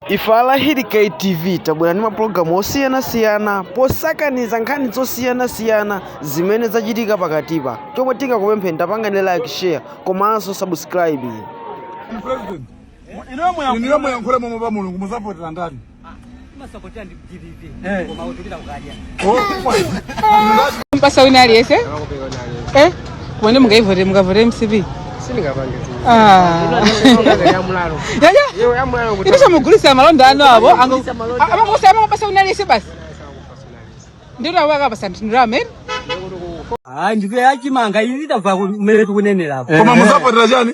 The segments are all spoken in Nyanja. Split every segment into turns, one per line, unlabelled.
Ife Alahiri K TV tabwera ndi mapulogalamu osiyanasiyana posakaniza nkhani zosiyanasiyana zimene zachitika pakatipa. Chomwe tingakupempheni pangani like, share komanso
subscribe. President, Inuyo muyankhule momwemo pa mulungu muzavotera ndani?
mpasa wina aliyese eh? kumene mungaivote mukavote mcp
ipisha
mugulisa malonda ano avo amakusa amangopasa wina aliyese basi ndiro awakapasa ndiro amene
Ah, ndi wa chimanga izi tamva kumene tikunenera apa. koma muzavotera
chani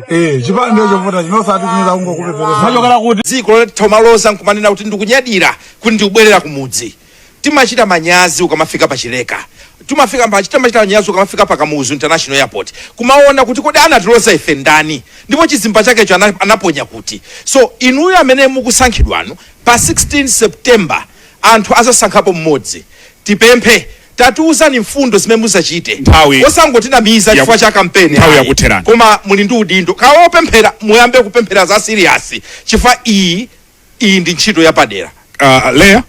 Eh, chipani ndiye chovota chinosati chinoza kungokupeperesa Machokera kuti dziko
ilo kumaloza nkumanena kuti ndikunyadira kuti ndikubwerera kumudzi timachita manyazi ukamafika pachileka timafika pa- timachita manyazi ukamafika pa kamuzu international airport kumaona kuti kodi anatiloza ife ndani ndipo chizimba chakecho ana- anaponya kuti so inuyo amene mukusankhidwanu pa 16 september Anthu azasankhapo mmodzi. Tipemphe tatiuzani mfundo zimene muzachite Nthawi osangotinamiza yaku- chifukwa cha kampeni nthawi ayi. yakutherani. Koma muli ndi udindo kaya opemphera muyambe kupemphera za serious chifukwa iyi iyi ndi ntchito yapadera.
Uh, Leah,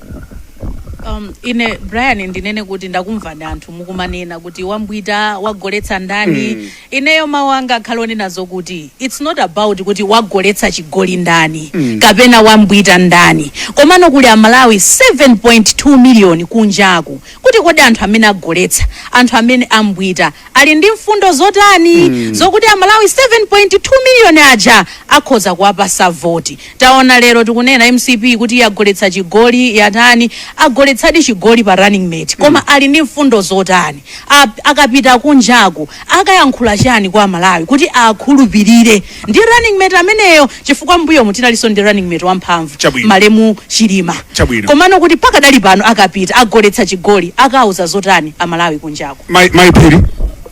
Um, ine brian ndinene kuti ndakumva anthu mukumanena kuti wambwita wagoletsa ndani Ineyo mau anga akhale onena zokuti it's not about kuti wagoletsa chigoli ndani kapena wambwita ndani komano kuli amalawi 7.2 million kunjaku kuti kodi anthu amene agoletsa anthu amene ambwita ali ndi mfundo zotani zokuti amalawi 7.2 million aja akhoza kuwapasa voti Taona lero tikunena mcp kuti yagoletsa chigoli yatani agoletsadi chigoli pa running mate koma ali ndi mfundo zotani A, akapita kunjaku akayankhula chani kwa amalawi kuti akhulupirire ndi running mate ameneyo chifukwa mbuyomu tinalinso ndi running mate wamphamvu Chabwino. malemu chilima Chabwino. komano kuti pakadali pano akapita agoletsa chigoli akauza zotani amalawi kunjaku Mai- maiphiri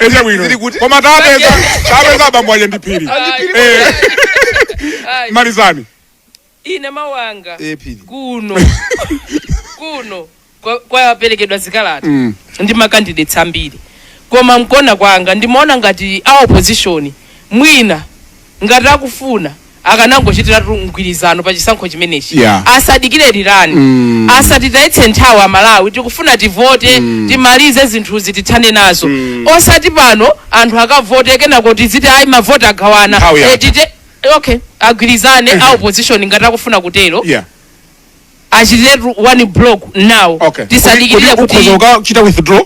echabwino Zili kuti? koma tapeza tapeza abambo aja ndi phiri Eh, Ayi, malizani
ine mawu anga Eh, Phiri. kuno kuno kwa- kwaperekedwa zikalata Mm. ndi makandidates ambiri koma mkuona kwanga ndimaona ngati a opposition mwina ngati akufuna akanangochitiratu mgwirizano pa chisankho chimenechi Yeah. asadikire rerun Mm. asatitayitse nthawi amalawi tikufuna tivote timalize zinthuzi tithane nazo osati pano anthu akavote kenako tiziti ayi mavoti agawana Nthawi yatha. Eh, tite- okay agwirizane a opposition ngati akufuna kutero yeah achitiretu one block now okay tisadikirire Kodi- kodi kuti ukhoza ukachita withdraw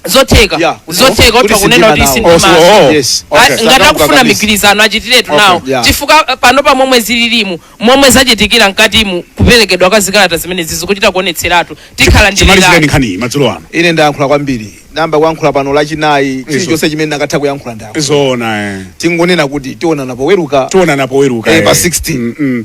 zotheka
Yeah. zotheka Kuti otha kunena kuti sindima nawo. sindima Oh, oh. Yes. A- Okay. ngati akufuna migwirizano achitiretu Okay, nawo yeah. chifukwa eh, pano pa momwe zililimu momwe zachitikira mkatimu kuperekedwa kwa zikalata zimenezi zikuchita kuonetseratu tikhala ndi chimalizireni rerun. nkhaniyi
madzulo ano ine
ndayankhula kwambiri nayamba kuyankhula pano lachinayi chilichonse chimene ndikanatha kuyankhula ndayankhula zoona eh.
tingonena kuti
tionana poweruka tionana poweruka Eh, eh.
pa 16.
Mm, mm.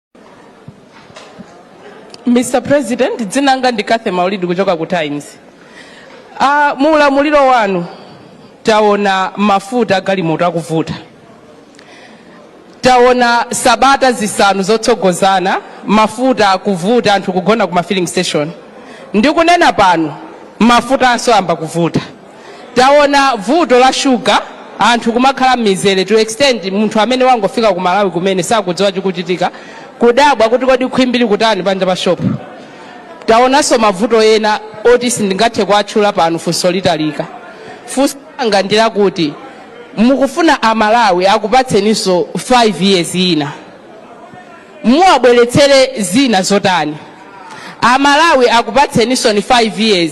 Mr. President, dzina langa ndi Cathy Maulidi kuchoka ku Times. Uh, mu ulamuliro wanu taona mafuta agalimoto akuvuta, taona sabata zisanu zotsogozana mafuta akuvuta, anthu kugona ku ma filling station. Ndikunena pano mafuta ansoyamba kuvuta. Taona vuto la sugar anthu kumakhala mmizere to extend munthu amene wangofika ku Malawi kumene sakudziwa chikuchitika kudabwa kuti kodi khwimbili kutani panja pa shop. Taonanso mavuto ena oti sindingathe kuwatchula pano funso litalika. Funso langa ndi lakuti mukufuna a Malawi akupatseninso 5 years ina muwabweretsere zina zotani? A Malawi akupatseninso ni 5 years